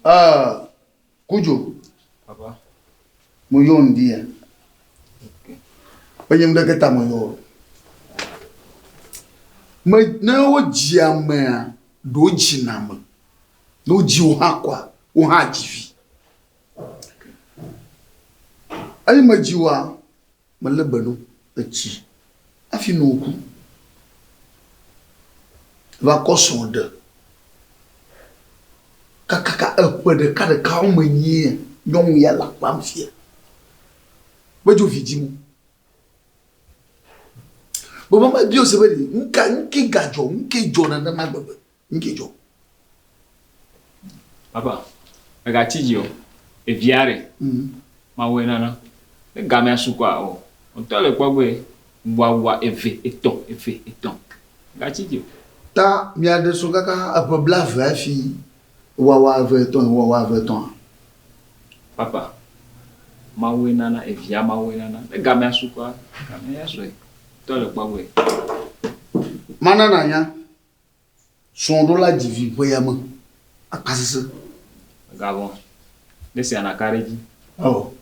Uh, Kujo. Papa. Mo yɔ ŋdi ya. Enye ŋɖe ke ta mo yɔ. Me ne wo dzi amea ɖo dzi na me. Ne wo dzi wo hã kwa, wo hã dzi vi. Eyi me dzi wa. Melé be nu etsi hafi nu ŋku va kɔ srɔ̃ ɖe kakaka eƒe ɖeka ɖekawo me nyuie. Nyɔnu ya le akpam fia be dzo vi dim. Vɔ mama Biose be, Nu ka, nu ke gadzɔ, nu ke dzɔ nenema gbegbe? Nu ke dzɔ? Papa, mègatsi dzi o. Evia ɖe? Mawue nana. Ne gamea su kɔa, ɔ, wò ŋutɔ le kpɔ egbee. Ŋuawua eve, etɔ̃, eve, etɔ̃. Mègatsi dzi o. Ta miaɖe srɔ̃ kaka eƒe blaeve hafi wòawa eve, etɔ̃, eye wòawa eve, etɔ̃a? Papa, Mawue nana. Evia, Mawue nana. Ne gamea su kɔa, gamea ya sue. Wò ŋutɔ le kpɔ egbee. Mana nànya Srɔ̃ɖola dzi vi ƒea me akpa sesẽ. Mègavɔ̃. Ne esia nàka ɖe edzi. Eo,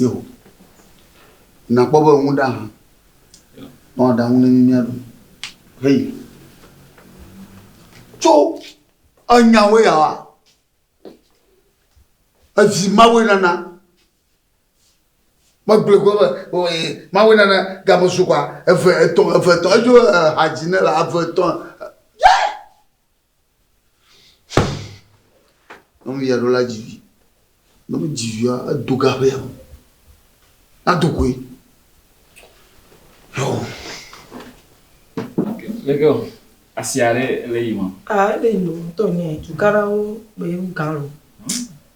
eo. Nàkpɔ be ŋu ɖa hã. Nɔ aɖaŋu ne mí míaɖu. Hei. Tso enyawo yawoa, evi Mawue nana. Megblɔe ko be o e Mawu nana game su kwa eve etɔ̃ eve etɔ̃ edzo ha dzi ne la eve etɔ̃ ye nyɔnu ya ɖo la dzi vi ne mi dzi via edo ga ƒe yame na do koe yɔ. Leke o asi aɖe le yi ma. Ah ele yi o tɔ nyɛ tukarawo be galo.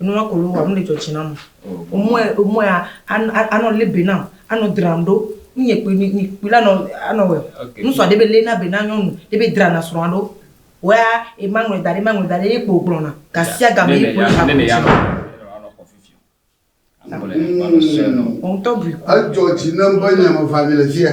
Nua ko wowɔa, nu ɖe dzɔ tsi nam o. Womɔe, womɔe a, a, anɔ lé be nam, anɔ dram ɖo. Nu nye kpui, mi, mi kpui la nɔ, anɔ wɔe. Okay. Ŋsua ɖe be lé na be na nyɔnu, ɖe be drana srɔ̃a ɖo. Wɔea, e ma ŋlɔe da ɖe, ma ŋlɔe da ɖe, ye kpo gblɔna. Gasiagame ye kpo le aƒe dzi. Wò ŋutɔ ɖui kpɔ. Edzɔ dzi nam be nye me va nyi le fiya.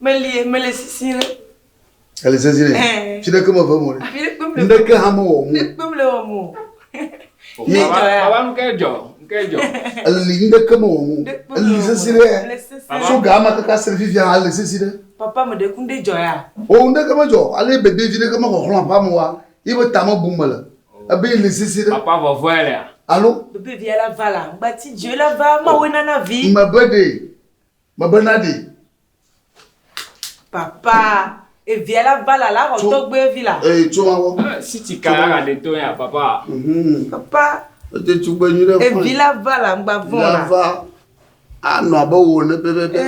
Melie, mele sisi ɖe. Ele sisi ɖe. Fi ɖeke me ve mo ɖe. Ndeke hã me wɔ mo. Ndeke me wɔ mo. Ni jɔ ya. Baba nu ke jɔ, ke jɔ. Eli ndeke me wɔ mo. Eli sisi ɖe. So ga ma kaka sere fi fia ele sisi ɖe. Papa me ɖe kun de jɔ ya. O ndeke me jɔ, ale bebe vi ɖeke me xɔ xlɔ apa mo wa. Ibe tame bu mele. Ebe ili sisi ɖe. Papa vɔ vɔ elea. Alo. Bebe vi ala vala, gbati jɔ la va ma wo nana vi. Mebe ɖe. Mebe na ɖi. Papa, evia la va la la xɔ tɔgbe vi la. Eye tso awɔ. Si ti ka ya de to ya papa. Papa. Ete tso gbe nyuɖe. Evi la va la ngba vɔ la. La va anɔ abe wo ne pɛpɛpɛ.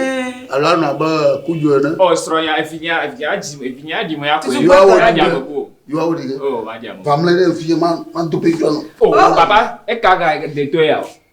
Alo anɔ abe kujo ne. Ɔ srɔ ya evi nya evi nya dzi evi nya dzi mo ya ko. Yua wo dzi me ko. Yua wo dzi me. O ma dzi mo. Vamle ɖe evi ma ma do pe jɔ no. O papa e ka ka de to ya.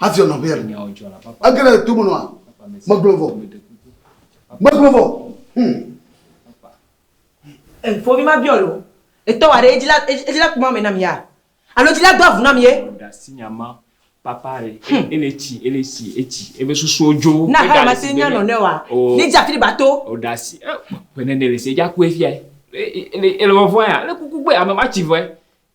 hafi ɔnɔ ʋɛ ege ɖe to me nɔa megblɔ vɔ megblɔ vɔ hmm. fovi ma biɔ lo etɔ wa ɖe edzi la edzi la kuma me nam ya alo edzi la do avu nam ye. ɔdasi nyama papa re hmm. ele tsi ele tsi etsi ebe susuwo dzo. na ha ma se nya nɔ ne wa oh. ne dzi afi ba to. ɔdasi ɛ eh, pene ne le se dza kue fia ele ele wɔvɔ ya ele kuku gbe ame ma tsi vɔɛ.